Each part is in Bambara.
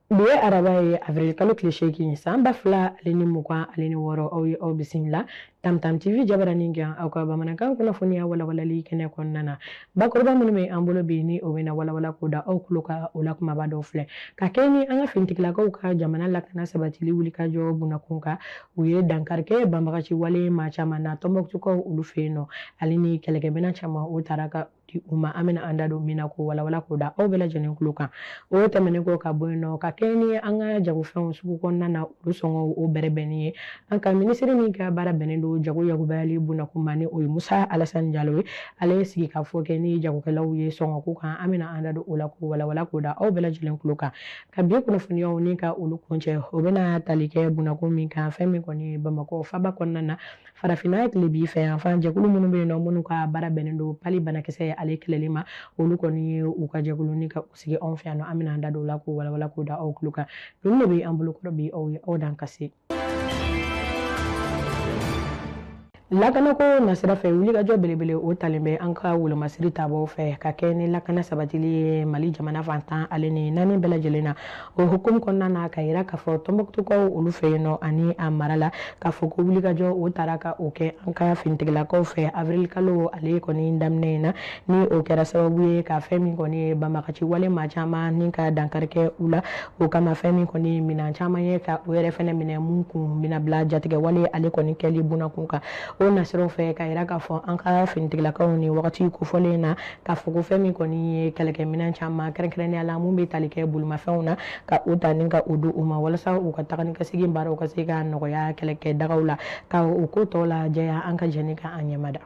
Bi ye araba ye avril kalo tile seegin san ba fila ale ni mugan ale ni wɔɔrɔ aw ye aw bisimila tamtam tv jabaranin kan aw ka bamanankan kunnafoniya walawalali kɛnɛ kɔnɔna na Bakuruba minnu bɛ an bolo bi ni o bɛna walawala k'o da aw tulo kan o la kumaba dɔw filɛ ka kɛ ni an ka finitigilakaw ka jamana lakana sabatili wulikajɔ bunnakun kan u ye dankari kɛ banbagaci wale maa caman na tɔnbɔkutukaw olu fɛ yen nɔ ale ni kɛlɛkɛminɛn caman o taara ka di u ma an bɛna an da don min na k'o walawala k'o da aw bɛɛ lajɛlen tulo kan o tɛmɛnen kɔ ka bɔ yen nɔ ka kɛ ni an ka jagofɛnw sugu kɔnɔna na olu sɔngɔ o bɛrɛbɛnni ye an ka minisiri min ka baara bɛnnen don jago yakubayali bonnakun ma ni o ye musa alasani jalo ye ale ye sigikafɔ kɛ ni jagokɛlaw ye sɔngɔko kan an bɛna an da don o la k'o walawala k'o da aw bɛɛ lajɛlen tulo kan ka bi kunnafoniyaw ni ka olu kuncɛ o bɛna tali kɛ bonnakun min kan fɛn min kɔni ye bamakɔ faba kɔnɔna na farafinna tilebin fɛ yan fan jɛkulu minnu bɛ yen nɔ minnu ka baara bɛnnen don pali banakisɛ ale kɛlɛli ma olu kɔni ye u ka jɛkulu ni ka sigi anw fɛ yan nɔ an bɛna an da don o la k'o walawala k'o da aw tulo kan ninnu de bɛ an bolo kɔrɔ bi aw ye aw dan ka se lakanako nasira fɛ wulikajɔ belebele o talen bɛ an ka wolomasiri tabaw fɛ ka kɛ ni lakana sabatili ye mali jamana fan tan ale ni naani bɛɛ lajɛlen na o hukumu kɔnɔna na ka yira k'a fɔ tɔnbɔkutukaw olu fɛ yen nɔ ani a mara la k'a fɔ ko wulikajɔ o taara ka o kɛ an ka finitigilakaw fɛ avril kalo ale kɔni daminɛ in na ni o kɛra sababu ye ka fɛn min kɔni ye banbagaci wale maa caman ni ka dankari kɛ u la o kama fɛn min kɔni ye minan caman ye ka o yɛrɛ fɛnɛ minɛ mun kun bɛna bila jatigɛ wale ale kɔni kɛli bunakun kan o nasiraw fɛ ka yira k'a fɔ an ka finitigilakaw nin wagati kofɔlen na k'a fɔ ko fɛn min kɔni ye kɛlɛkɛminɛn caman kɛrɛnkɛrɛnnenya la mun bɛ tali kɛ bolimafɛnw na ka o ta ni ka o di u ma walasa u ka taga ni ka segin baaraw ka se ka nɔgɔya kɛlɛkɛ dagaw la ka o ko tɔw lajɛya an ka jɛ ni ka an ɲɛmada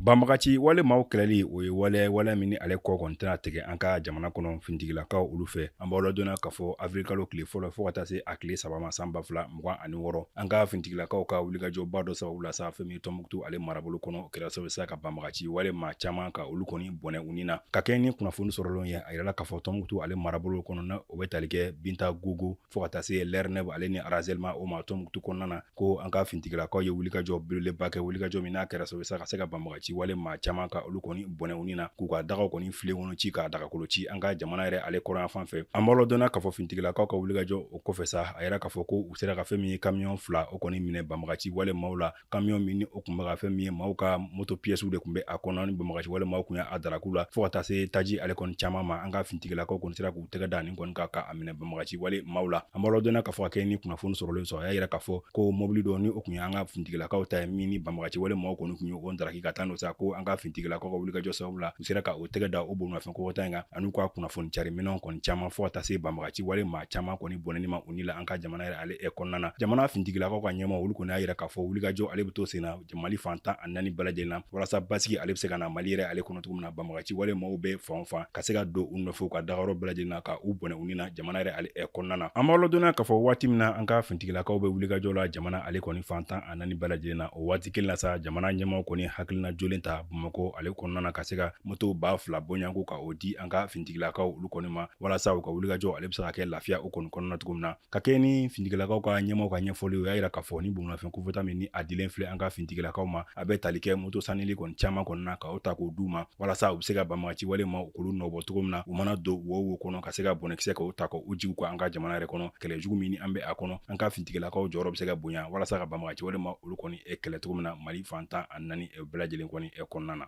banbagaci wale maaw kɛlɛli o ye waleya waleya min ni ale kɔ kɔni tɛna tigɛ an ka jamana kɔnɔ finitigilakaw olu fɛ an b'aw ladɔnniya k'a fɔ avril kalo tile fɔlɔ fɔɔ ka taa se a tile saba ma san ba fila mugan ani wɔɔrɔ an ka finitigilakaw ka wulikajɔba dɔ sababu la sa fɛn min tɔnbɔkutu ale marabolo kɔnɔ kɛra sababu sa ka banbagaci wale maa caman ka olu kɔni bɔnɛ u ni na ka kɛɲɛ ni kunnafoni sɔrɔlenw ye a yirala k'a fɔ tɔnbɔkutu ale marabolo kɔnɔ na o bɛ tali kɛ bintagungu fo ka taa se lɛrɛnɛb ale ni razɛlima o ma tɔnbɔkutu kɔnɔna na ko an ka finitigilakaw ye wulikajɔ belebeleba kɛ wulikajɔ min n'a kɛra sababu sa ka se ka banbagaci wale maa caman ka olu kɔni bɔnɛ u ni na k'u ka dagaw kɔni filenkolon ci ka dagakolon ci an ka jamana yɛrɛ ale kɔrɔnyanfan fɛ an b'aw ladɔnniya k'a fɔ finitigilakaw ka wulikajɔ kɔfɛ sa a yira k'a fɔ ko u sera ka fɛn min ye kamiyɔn fila o kɔni minɛ banbagaci wale maaw la kamiyɔn min ni o kun bɛ ka fɛn min ye maaw ka moto piyɛsiw de kun bɛ a kɔnɔ ni banbagaci wale maaw kun y'a darak'u la fo ka taa se taji ale kɔni caman ma an ka fintigilakaw kɔni sera k'u tɛgɛ da nin kɔni kan ka a minɛ banbagaci wale maaw la an b'aw ladɔnniya k'a fɔ ka kɛ ni kunnafoni sɔrɔlen sɔrɔ a y'a yira k'a fɔ ko mɔbili dɔ ni o kun ye an ka fintigilakaw ta ye min ni banbagaci wale maaw kɔni kun ye o daraki ka taa n'o sa ko an ka fintigilakaw ka wulikajɔ sababu la u sera ka o tɛgɛ da o bolimafɛn kofɔta in kan an'u ka kunnafoni cari minɛnw kɔni caman fo ka taa se banbagaci wale maa caman kɔni bɔnɛni ma u ni la an ka jamana yɛrɛ ale kɔnɔna na jamana fintigilakaw ka ɲɛmaa olu kɔni y'a yira k'a fɔ wulikajɔ ale bɛ to sen na mali fan tan ani naani bɛɛ lajɛlen na walasa basigi ale bɛ se ka na mali yɛrɛ ale kɔnɔ cogo min na banbagaci wale maaw bɛ fan o fan ka se ka don u nɔfɛ u ka dagayɔrɔ bɛɛ lajɛlen na ka u bɔnɛ u ni na jamana yɛrɛ ale kɔnɔna na an b'aw ladɔnniya k'a fɔ waati min na an ka fintigilakaw bɛ wulikajɔ la jamana ale kɔni fan tan a naani bɛɛ lajɛlen na o waati kelen na sa jamana ɲɛmaaw kɔni hakilina jolen ta bamakɔ ale kɔnɔna na ka se ka moto ba fila bɔɲɔgɔnko ka o di an ka finitigilakaw olu kɔni ma walasa u ka wulikajɔ ale bɛ se ka kɛ lafiya o kɔni kɔnɔna cogo min na ka kɛ ni finitigilakaw ka ɲɛmaaw ka ɲɛfɔli o y'a yira k'a fɔ ni bolimafɛn kofɔta min ni a dilen filɛ an ka finitigilakaw ma a bɛ tali kɛ moto sanili kɔni caman kɔnɔna na ka o ta k'o d'u ma walasa u bɛ se ka banbagaci wale maa u k'olu nɔbɔ cogo min na u mana don wo wo kɔnɔ ka se ka bɔnɛkisɛ ka o ta ka o jigin ka an ka jamana yɛrɛ kɔnɔ kɛlɛ jugu min ni an bɛ a kɔnɔ an ka fintigilakaw jɔyɔrɔ bɛ se ka bonya walasa ka banbagaci wale maa olu kɔni e kɛlɛ cogo min na mali fan tan ani naani e bɛɛ lajɛlen kɔni e kɔnɔna na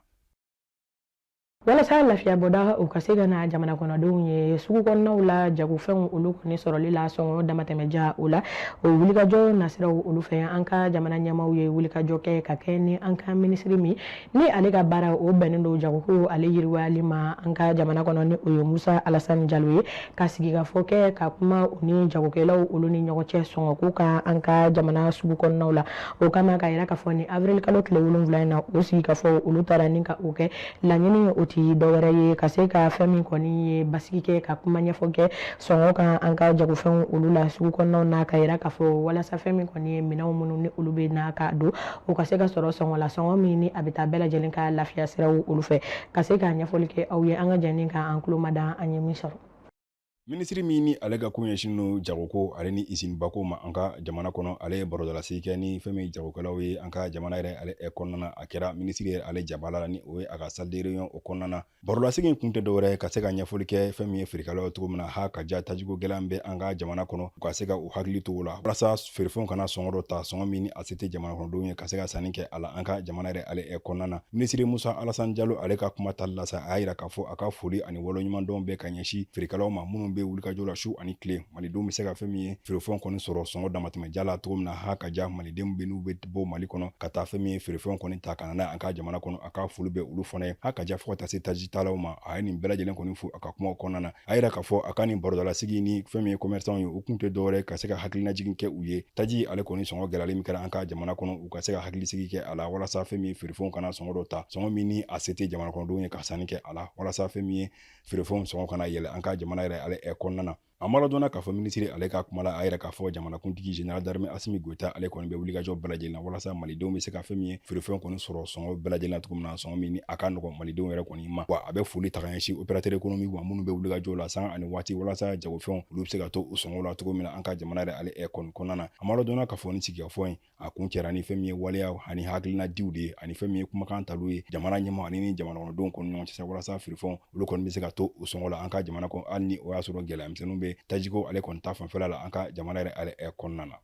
walasa lafiyabɔda u ka se ka na jamana kɔnɔdenw ye sugu kɔnɔnaw la jagofɛnw olu kɔni sɔrɔli la sɔngɔ damatɛmɛja o la o wulikajɔ nasiraw olu fɛ an ka jamana ɲɛmaaw ye wulikajɔ kɛ ka kɛ ni an ka minisiri min ni ale ka baara o bɛnnen don jagoko ale yiriwali ma an ka jamana kɔnɔ ni o ye musa alasani jalo ye ka sigikafɔ kɛ ka kuma u ni jagokɛlaw olu ni ɲɔgɔn cɛ sɔngɔko kan an ka jamana sugu kɔnɔnaw la o kama k'a yira k'a fɔ ni avril kalo tile wolonwula in na o sigikafɔ olu taara ni ka o kɛ laɲini o ti dɔwɛrɛ ye ka se ka fɛn min kɔni ye basigi kɛ ka kuma ɲɛfɔ kɛ sɔngɔ kan an ka jagofɛnw olu la sugu kɔnɔnaw na k'a yira k'a fɔ walasa fɛn min kɔni ye minɛnw minnu ni olu bɛ na ka don o ka se ka sɔrɔ sɔngɔ la sɔngɔ min ni a bɛ taa bɛɛ lajɛlen ka lafiya siraw olu fɛ ka se ka ɲɛfɔli kɛ aw ye an ka jɛ ni ka an tulo mada an ye min sɔrɔ minisiri min ni ale ka ko ɲɛsinnen don jagoko ale ni isinibako ma an ka jamana kɔnɔ ale ye barodalasi kɛ ni fɛn min jagokɛlaw ye an ka jamana yɛrɛ ale kɔnɔna a kɛra minisiri yɛrɛ ale jabala la ni o ye a ka salle de réunion o kɔnɔna na Barolasigi in kun tɛ dɔwɛrɛ ka se ka ɲɛfɔli kɛ fɛn min ye feerekɛlaw cogo min na ha ka ja tajiko gɛlɛn bɛ an ka jamana kɔnɔ u ka se ka u hakili to o la walasa feerefɛnw kana sɔngɔ dɔ ta sɔngɔ min ni a se tɛ jamana kɔnɔdenw ye ka se ka sanni kɛ a la an ka jamana yɛrɛ ale ɛ kɔnɔna na minisiri musa alasan jalo ale ka kuma tali la sa a y'a yira k'a fɔ a ka foli ani waleɲumandɔn bɛ ka ɲɛsin feerekɛlaw ma minnu bɛ wulikajɔ la su ani tile malidenw bɛ se ka fɛn min ye feerefɛnw kɔni sɔrɔ sɔngɔ damatɛmɛja la cogo min na ha ka ja malidenw bɛ n'u bɛ bɔ mali kɔnɔ ka taa fɛn min ye feerefɛnw kɔni ta ka na n'a an ka jamana kɔnɔ a ka foli bɛ olu fana ye ha ka ja fɔ ka taa se taji talaw ma a ye nin bɛɛ lajɛlen kɔni fo a ka kumaw kɔnɔna na a yira k'a fɔ a ka nin barodalasigi ni fɛn min ye commerçants ye u kun tɛ dɔwɛrɛ ka se ka hakilinajigin kɛ u ye taji ale kɔni sɔngɔ gɛlɛyalen min kɛra an ka jamana kɔnɔ u ka se ka hakilisigi kɛ a la walasa fɛn min ye feerefɛnw kana sɔngɔ dɔ ta sɔngɔ min ni a se tɛ jamana kɔnɔdenw ye ka sanni kɛ a la walasa fɛn min ye feerefɛnw sɔngɔ kana yɛlɛ an ka jamana yɛrɛ ale ɛ kɔnɔna na a maladɔnna k'a fɔ minisiri ale ka kuma la a yɛrɛ k'a fɔ jamanakuntigi général d'armée Assimi Goïta ale kɔni bɛ wulikajɔ bɛɛ lajɛlen na walasa malidenw bɛ se ka fɛn min ye feerefɛnw kɔni sɔrɔ sɔngɔ bɛɛ lajɛlen na cogo min na sɔngɔ min ni a ka nɔgɔn malidenw yɛrɛ kɔni ma wa a bɛ foli ta ka ɲɛsin opérateur économique ma minnu bɛ wulikajɔ la sanga ani waati walasa jagofɛnw olu bɛ se ka to u sɔngɔ la cogo min na an ka jamana yɛrɛ ale ɛ kɔni kɔnɔna na a maladɔnna k'a fɔ ni sigikafɔ ye a kuncɛra ni fɛn min ye waleya ani hakilina diw de ye ani fɛn min ye kumakan talu ye jamana ɲɛmaa ani ni jamanakɔnɔdenw kɔni ɲɔgɔn cɛ walasa feerefɛnw olu kɔni bɛ se ka to u sɔngɔ la an ka jamana kɔnɔ hali ni o y'a sɔrɔ gɛlɛyamisɛnninw bɛ tajiko ale kɔni ta fanfɛla la an ka jamana yɛrɛ ale kɔnɔna na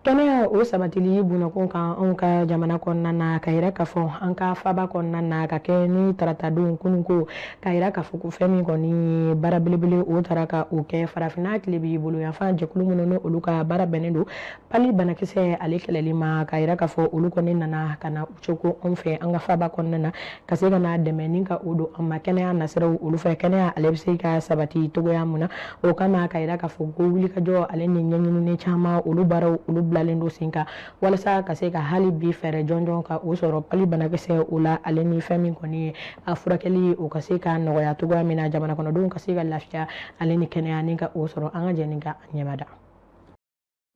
kɛnɛya o sabatili bonnakun kan anw ka jamana kɔnɔna na ka yira k'a fɔ an ka faaba kɔnɔna na ka kɛ ni taratadon kununko ka yira k'a fɔ ko fɛn min kɔni ye baara belebele o tara ka o kɛ farafinna tilebin bolo yanfan jɛkulu minnu ni olu ka baara bɛnnen don Pali banakisɛ ale kɛlɛli ma ka yira k'a fɔ olu kɔni nana ka na u cogo anw fɛ an ka faba kɔnɔna na ka se ka na dɛmɛ ni ka o don an ma kɛnɛya nasiraw olu fɛ kɛnɛya ale bɛ se ka sabati cogoya min na o kama ka yira k'a fɔ ko wulikajɔ ale ni ɲɛɲinini caman olu baaraw olu bilalen don sen kan walasa ka se ka hali bi fɛɛrɛ jɔnjɔn ka o sɔrɔ pali banakisɛ o la ale ni fɛn min kɔni ye a furakɛli o ka se ka nɔgɔya cogoya min na jamana kɔnɔdenw ka se ka lafiya ale ni kɛnɛya ni ka o sɔrɔ an ka jɛ ni ka ɲɛmada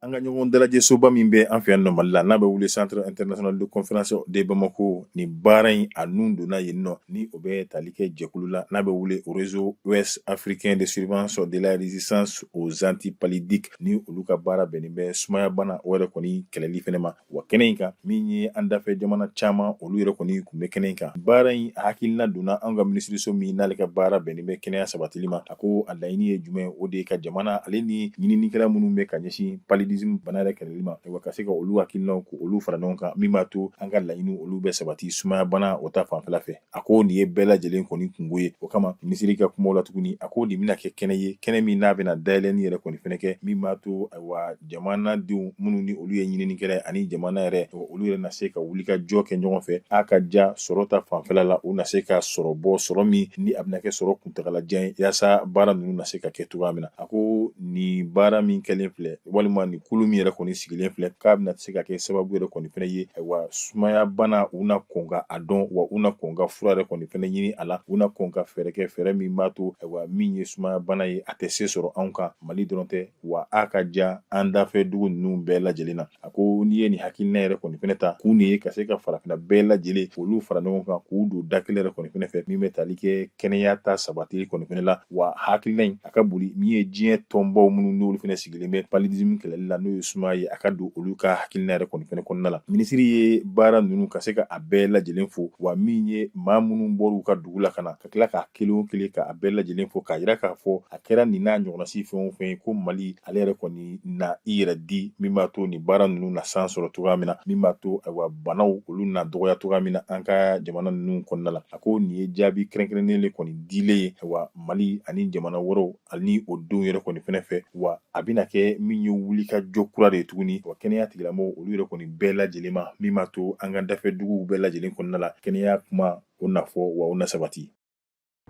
An ka ɲɔgɔn dalajɛsoba min bɛ an fɛ yan nɔ Mali la n'a bɛ wele centre international de conférence de Bamako nin baara in a nun donna yen nɔ ni o bɛ tali kɛ jɛkulu la n'a bɛ wele réseau ouest africain de surveillance de la résistance aux antipaludiques ni olu ka baara bɛnnen bɛ sumayabana o yɛrɛ kɔni kɛlɛli fɛnɛ ma wa kɛnɛ in kan min ye an dafɛ jamana caman olu yɛrɛ kɔni kun bɛ kɛnɛ in kan baara in hakilina donna an ka minisiriso min n'ale ka baara bɛnnen bɛ kɛnɛya sabatili ma a ko a laɲini ye jumɛn o de ye ka jamana ale ni ɲininikɛlaw minnu bɛ ka ɲɛsin paludisme bana yɛrɛ kɛlɛli ma wa ka se ka olu hakilinaw ko olu fara ɲɔgɔn kan min b'a to an ka laɲini olu bɛ sabati sumaya bana o ta fanfɛla fɛ a ko nin ye bɛɛ lajɛlen kɔni kunko ye o kama minisiri ka kumaw la tuguni a ko nin bɛna kɛ kɛnɛ ye kɛnɛ min n'a bɛna dayɛlɛni yɛrɛ kɔni fɛnɛ kɛ min b'a to ayiwa jamana denw minnu ni olu ye ɲininikɛla ani jamana yɛrɛ olu yɛrɛ na se ka wuli ka jɔ kɛ ɲɔgɔn fɛ a ka ja sɔrɔ ta fanfɛla la u na se ka sɔrɔ bɔ sɔrɔ min ni a bɛna kɛ sɔrɔ kuntagalajan ye yaasa baara ninnu na se ka kɛ cogoya min na a ko nin baara min kɛlen filɛ walima nin kulu min yɛrɛ kɔni sigilen filɛ k'a bɛna se ka kɛ sababu yɛrɛ kɔni fɛnɛ ye ayiwa sumaya bana u na kɔn ka a dɔn wa u na kɔn ka fura yɛrɛ kɔni fɛnɛ ɲini a la u na kɔn ka fɛɛrɛ kɛ fɛɛrɛ min b'a to ayiwa min ye sumaya bana ye a tɛ se sɔrɔ anw kan mali dɔrɔn tɛ wa a ka ja an dafɛ dugu ninnu bɛɛ lajɛlen na a ko nin ye nin hakilina yɛrɛ kɔni fɛnɛ ta kun de ye ka se ka farafina bɛɛ lajɛlen olu fara ɲɔgɔn kan k'u don da kelen yɛrɛ kɔni fɛnɛ fɛ min bɛ tali kɛ kɛnɛya ta sabatili kɔni fɛnɛ la wa hakilina in a ka boli min ye diɲɛ tɔnbaw minnu n'olu fɛnɛ sigilen bɛ paludisme kɛlɛli la n'o ye sumaya ye a ka don olu ka hakilina yɛrɛ kɔni fɛnɛ kɔnɔna la minisiri ye baara ninnu ka se ka a bɛɛ lajɛlen fo wa min ye maa minnu bɔr'u ka dugu la ka na ka tila k'a kelen o kelen k'a bɛɛ lajɛlen fo k'a yira k'a fɔ a kɛra nin n'a ɲɔgɔnnasi fɛn o fɛn ye ko mali ale yɛrɛ kɔni na i yɛrɛ di min b'a to nin baara ninnu na san sɔrɔ cogoya min na min b'a to ayiwa banaw olu na dɔgɔya cogoya min na an ka jamana ninnu kɔnɔna la a ko nin ye jaabi kɛrɛnkɛrɛnnen le kɔni dilen ye ayiwa mali ani jamana wɛrɛw ani o denw yɛrɛ kɔni fɛnɛ fɛ wa a bɛna kɛ min ye wulikajɔ kura de ye tuguni wa kɛnɛya tigilamɔgɔw olu yɛrɛ kɔni bɛɛ lajɛlen ma min b'a to an ka dafɛ duguw bɛɛ lajɛlen kɔnɔna la kɛnɛya kuma o na fɔ wa o na sabati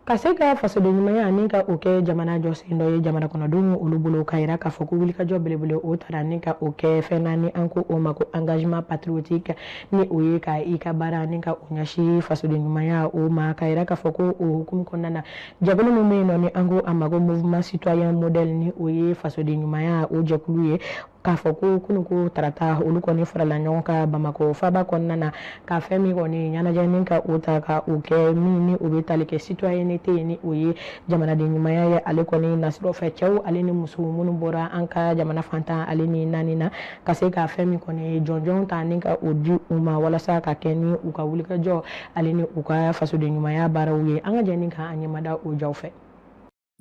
ka se ka fasoden ɲumanya ni ka o kɛ jamana jɔsen dɔ ye jamana kɔnɔdenw olu bolo ka yira k'a fɔ ko wulikajɔ belebele o tara ni ka o kɛ fɛn na ni an ko o ma ko engagement patriotique ni o ye ka i ka baara ni ka o ɲɛsi fasoden ɲumanya o ma ka yira k'a fɔ ko o hukumu kɔnɔna na jɛkulu min bɛ yen nɔ ni an ko a ma ko mouvement citoyen modèle ni o ye fasoden ɲumanya o jɛkulu ye k'a fɔ ko kunu ko tarata olu kɔni farala ɲɔgɔn kan bamakɔ faba kɔnɔna na ka fɛn min kɔni ɲɛnajɛ ni ka o ta ka o kɛ min ni o bɛ tali kɛ citoyenneté ye ni o ye jamanaden ɲumanya ye ale kɔni nasir'o fɛ cɛw ale ni muso minnu bɔra an ka jamana fan tan ale ni naani na ka se ka fɛn min kɔni jɔnjɔn ta ni ka o di u ma walasa ka kɛ ni u ka wulikajɔ ale ni u ka fasoden ɲumanya baaraw ye an ka jɛ ni ka an ɲɛmada o jaw fɛ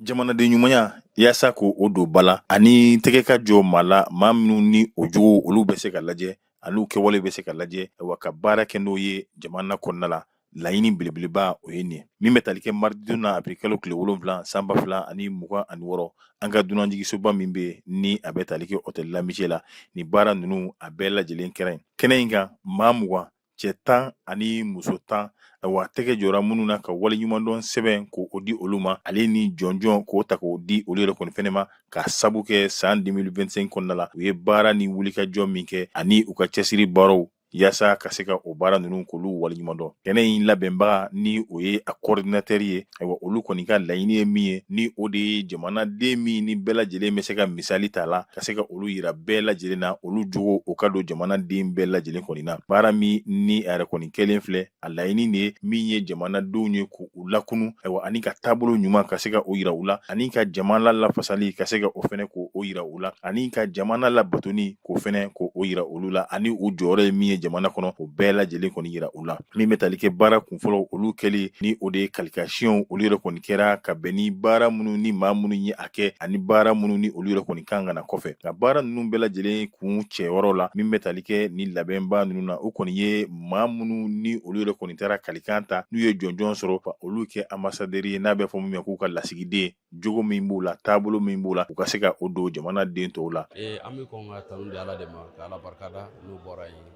jamanaden ɲumanya yaasa k'o don ba la ani tɛgɛ ka jɔ maa la maa minnu ni o jogo olu bɛ se ka lajɛ ani u kɛwale bɛ se ka lajɛ wa ka baara kɛ n'o ye jamana kɔnɔna la laɲini belebeleba o ye nin min bɛ tali kɛ mardi don na avril kalo tile wolonwula san ba fila ani mugan ani wɔɔrɔ an ka dunanjigisoba min bɛ ni a bɛ tali kɛ hôtel l'Amitié la ni baara ninnu a bɛɛ lajɛlen kɛra kɛnɛ in kan maa mugan cɛ tan ani muso tan wa tɛgɛ jɔra minnu na ka waleɲumandɔn sɛbɛn k'o di olu ma ale ni jɔnjɔn k'o ta k'o di olu yɛrɛ kɔni fɛnɛ ma k'a sabu kɛ san 2025 kɔnɔna la u ye baara ni wulikajɔ min kɛ ani u ka cɛsiri baaraw yaasa ka se ka o baara ninnu k'olu waleɲumandɔn kɛnɛ in labɛnbaga ni o ye a kɔɔridinatɛri ye ayiwa olu kɔni ka laɲini ye min ye ni o de ye jamanaden min ni bɛɛ lajɛlen bɛ se ka misali ta la ka se ka olu yira bɛɛ lajɛlen na olu jogo o ka don jamanaden bɛɛ lajɛlen kɔni na baara min ni a yɛrɛ kɔni kɛlen filɛ a laɲini de ye min ye jamanadenw ye k'u lakunu ayiwa ani ka taabolo ɲuman ka se ka o yira u la ani ka jamana lafasali ka se ka o fɛnɛ k'o yira u la ani ka jamana labatoni k'o fɛnɛ k'o yira olu la ani u jɔyɔrɔ ye min ye jamana kɔnɔ o bɛɛ lajɛlen kɔni yira u la min bɛ tali kɛ baara kunfɔlɔ olu kɛli ni o de ye qualificationw olu yɛrɛ kɔni kɛra ka bɛn ni baara minnu ni maa minnu ye a kɛ ani baara minnu ni olu yɛrɛ kɔni kan ka na kɔfɛ nka baara ninnu bɛɛ lajɛlen kuncɛyɔrɔ la min bɛ tali kɛ ni labɛnba ninnu na o kɔni ye maa minnu ni olu yɛrɛ kɔni taara kalikan ta n'u ye jɔnjɔn sɔrɔ ka olu kɛ ambassadeur ye n'a bɛ fɔ min ma k'u ka lasigiden jogo min b'u la taabolo min b'u la u ka se ka o don jamanaden tɔw la eh, an bɛ kɔn ka tanu di ala de ma ka ala barikada n'o bɔra yen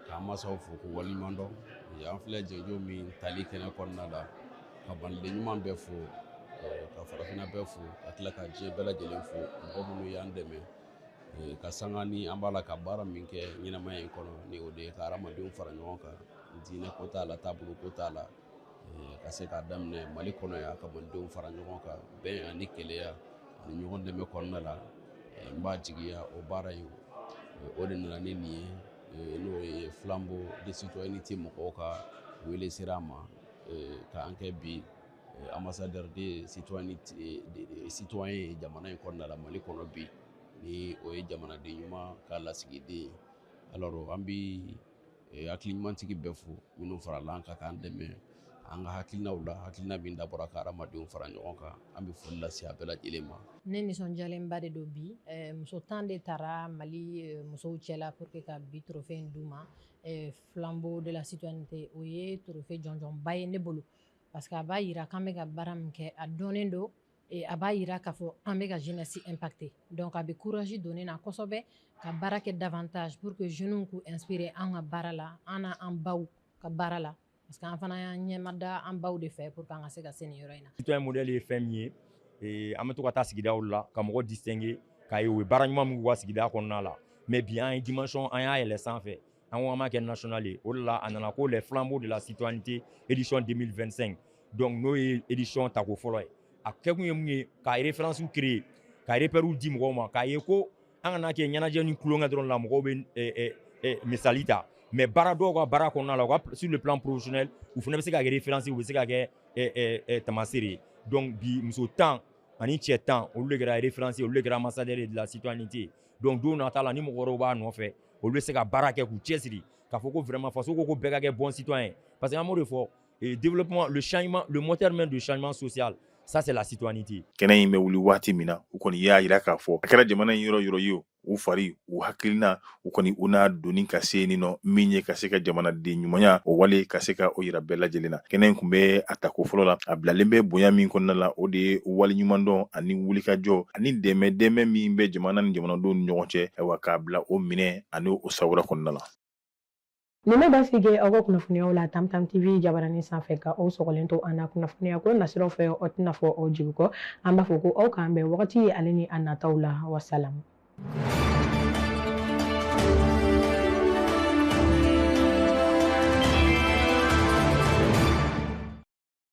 k'an masaw fo k'u waleɲuman dɔn eh, an filɛ jɔnjɔn min tali kɛnɛ kɔnɔna la ka maliden ɲuman bɛɛ fo eh, ka farafinna bɛɛ fo ka tila ka diɲɛ bɛɛ lajɛlen fo mɔgɔ minnu y'an dɛmɛ ka sanga ni an b'a la ka baara min kɛ ɲɛnamaya in kɔnɔ ni o de ye ka hadamadenw fara ɲɔgɔn kan diinɛ ko t'a la taabolo ko t'a la ka se k'a daminɛ mali kɔnɔ yan ka malidenw fara ɲɔgɔn kan bɛn ani kelenya ani ɲɔgɔn dɛmɛ kɔnɔna la n b'a jigiya o baara in o de nana ni nin ye n'o ye flambeau de citoyenneté mɔgɔw ka wele sera an ma k'an kɛ bi ambassadeur de citoyen ye jamana in kɔnɔna la mali kɔnɔ bi ni o ye jamanaden ɲuman ka lasigiden ye an bɛ eh, hakili ɲumantigi bɛɛ fo minnu farala an kan k'an dɛmɛ an ka hakilinaw la hakilina min dabɔra ka hadamadenw fara ɲɔgɔn kan an bɛ foli lase a bɛɛ lajɛlen ma ne nisɔndiyalenba de don bi eh, muso tan de tara mali eh, musow cɛla pour que ka bi trophée in d'u ma flambeau de la citoyenneté o ye trophée jɔnjɔnba ye ne bolo parce que a b'a yira k'an bɛ ka baara min kɛ a dɔnnen don a b'a yira k'a fɔ an bɛ ka jeunesse impacter donc a bɛ courage don n na kosɛbɛ ka baara kɛ davantage pur que jeunew k'u inspirer an ka baara la an n'an baw ka baara la parce que an fana y'an ɲɛmada an baw de fɛ pour que an ka se ka se nin yɔrɔ in na citoyen modèle ye fɛn min ye an bɛ to ka taa sigidaw la ka mɔgɔ distinguer k'a ye u ye baara ɲuman min k'u ka sigida kɔnɔna la mais bi an ye dimension an y'a yɛlɛ sanfɛ An ko an b'a kɛ national ye o de la a nana ko les flambeaux de la citoyenneté édition 2025 donc n'o ye édition tako fɔlɔ ye a kɛkun ye mun ye ka référencew créer ka repères di mɔgɔw ma k'a ye ko an kana kɛ ɲɛnajɛ ni tulonkɛ dɔrɔn la mɔgɔw bɛ eh, eh, eh, misali ta mais baara dɔw ka baara kɔnɔna la u ka sur le plan professionnel u fana bɛ se ka kɛ référence u bɛ se ka kɛ eh, eh, eh, tamasere ye donc bi muso tan ani cɛ tan olu de kɛra référence ye olu de kɛra ambassadeur de la citoyenneté donc don nata la ni mɔgɔ wɛrɛw b'a nɔfɛ olu bɛ se ka baara kɛ k'u cɛsiri k'a fɔ ko vraiment faso ko ko bɛɛ ka kɛ bon citoyen parce que an b'o de fɔ développement le changement le moteur même de changement social ça c'est la citoyenneté kɛnɛ in bɛ wuli waati min na u kɔni y'a yira k'a fɔ a kɛra jamana in yɔrɔ yɔrɔ ye o u fari u hakilina u kɔni u n'a doni ka se nin nɔ min ye ka se ka jamanaden ɲumanya o wale ka se ka o yira bɛɛ lajɛlen na kɛnɛ in kun bɛ a tako fɔlɔ la a bilalen bɛ bonya min kɔnɔna la o de ye waleɲumandɔn ani wulikajɔ ani dɛmɛ dɛmɛ min bɛ jamana ni jamanadenw ni ɲɔgɔn cɛ ayiwa k'a bila o minɛ ani o sawura kɔnɔna la nin bɛ basigi aw ka kunnafoniyaw la Tam Tam TV jabaranin sanfɛ ka aw sɔgɔlen to an na kunnafoniya ko nasiraw fɛ aw tɛna fɔ aw jigi kɔ an b'a fɔ ko aw k'an bɛn wagati ye ale ni a nataw la wasalamu